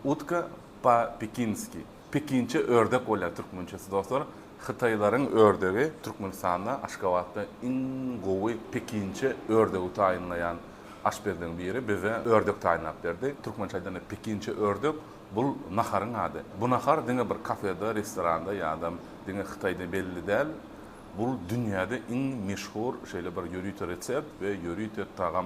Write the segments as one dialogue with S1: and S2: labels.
S1: Utka pa pekinski, Pekinçe ördek bolýar türkmençesi dostlar. Hytaýlaryň ördegi Türkmenistanda Aşgabatda iň gowy pekinçe ördegi taýynlaýan aşpezleriň biri bize ördek taýynlap berdi. Türkmençe aýdanda pekinçe ördek bul naharyň ady. Bu nahar diňe bir kafeda, restoranda ýa-da diňe Hytaýda belli däl. Bul dünýäde iň meşhur şeýle bir ýörite resept we ýörite tagam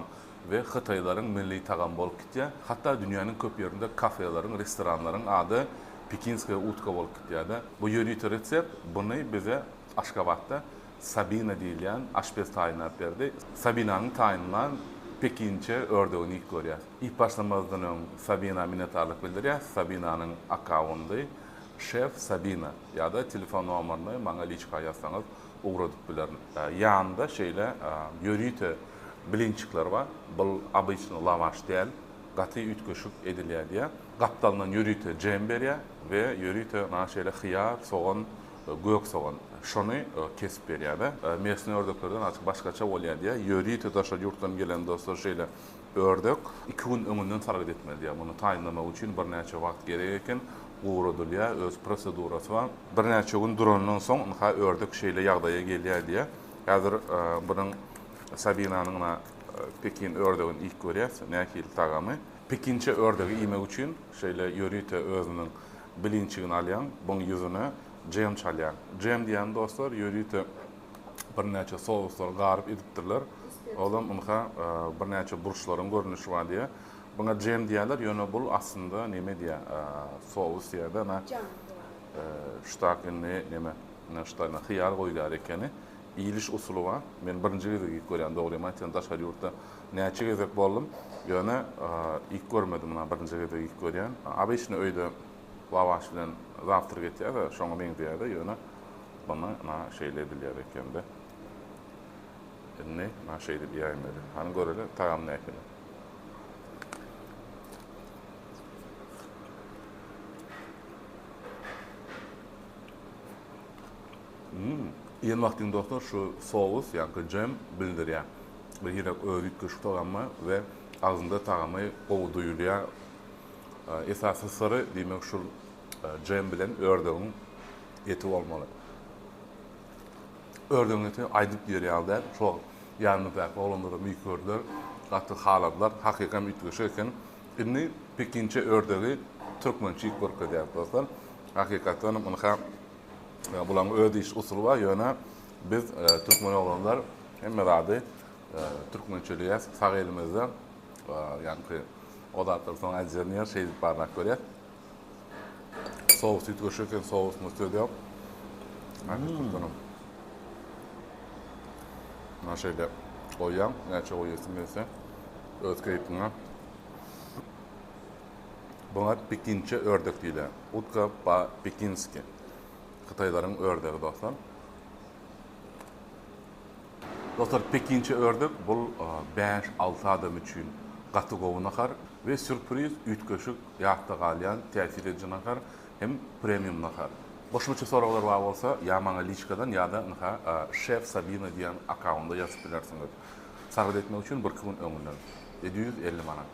S1: we hytaýlaryň milli tagamy bolup gitýär. Hatda dünýäniň köp ýerinde kafeleriň, restoranlaryň ady Pekinskaýa utka bolup gitýär-de. Bu ýörite resept buny bize Aşgabatda Sabina diýilýän aşpez taýynlap berdi. Sabinanyň taýynlan pekinçe ördegini iýip görýäs. Iýip başlamazdan öň Sabina minnetdarlyk bildirýäs. Sabinanyň akkaundy, Şef Sabina, ýa-da telefon nomerini maňa liçka ýazsaňyz, ugradyp bilerin. Ýanynda şeýle ýörite blinçikler bar. Bul obyçny lawaş däl, gaty üýtgeşik edilýär diýýär. Gapdalyndan ýörite jem berýär we ýörite maňa şeýle hyýar, sogan, gök sogan şony kesip berýär-de. Mesnä ördeklerden azajyk başgaça bolýar diýýär. Ýörite daşary ýurtdan gelen dostlar şeýle Ördek iki gün öňünden salgyt etmeli diýýär. Muny taýynlamak üçin birnäçe wagt gerek eken. Guradylýar, öz prosedurasy bar. Birnäçe gün durandan soň ynha ördek şeýle ýagdaýa gelýär diýýär. Häzir biziň Sabinanyň ynha pekin ördegini iýip görýäs, nähili tagamy. Pekinçe ördegi iýmek üçin şeýle ýörite özüniň bilinçigini alýaň, buň ýüzüne džem çalýaň. Džem diýýän dostlar ýörite. birnäçe souslary garyp edipdirler. Olam ynha birnäçe burçlaryň görnüşi bar diýýär. Buňa jem diýýärler, ýöne bul aslynda neme diýýär, sous diýýär-de, ana, şutak indi neme, ynha şuta indi hyýar goýulýar ekeni. Iýiliş usuly bar. Men birinji gezek iýip görýän, dogrymy aýtsam, daşary ýurtda näçe gezek boldum, ýöne iýip görmedim, ynha birinji gezek iýip görýän. Obyçny öýde Lavaş bilen zawtrk etýäs-ä, şoňa meňzeýär-de, ýöne muny na şeýle edilýär eken-de. Indi na şeýdip iýäýin weli. Hany göreli, tagamy nähili. Hum, iýen wagtyň dostlar şu sous, ýagny jem bildirýär. Birhili özi üýtgeşik tagammy we agzyňda tagamy gowy duýulýar. Esasy syry diýmek şul djem bilen ördegiň eti bolmaly. Ördegiň eti aýdyp diýer ýaly däl. Şo ýanymyzdaky oglanlaram iý gördüler. Gaty haladylar. Hakykam üýtgeşik eken. Indi pekinçe ördegi türkmençe iýip görkezýäris dostlar. Hakykatdanam ynha bulaň öz iýiş usuly bar, ýöne biz türkmen oglanlar hemme zady türkmençeleýäs sag elimizde. Ýaňky o zatlary soň äjýär diýýär, şeýdip barlap görýär. Sous üýtgeşik eken, sousumyz söz ýok. Häzir turtanam. Muna şeýle goýýaň, näçe goýasym gelse, öz keýpiňe. Buňa pekinçe ördek diýilýär. Utka po-pekinski. Hytaýlaryň ördegi dostlar. Dostlar pekinçe ördek bul bäş alty adam üçin gaty gowy nahar we sürpriz üýtgeşik ýatda galýan täsir ediji nahar hem premium nahar. Goşmaça soraglar bar bolsa ýa maňa liçkadan ýada ynha şef sabina diýen akaunda ýazyp bilersiňiz. Sargyt etmek üçin birki gün öňünden. Edi ýüz elli manat.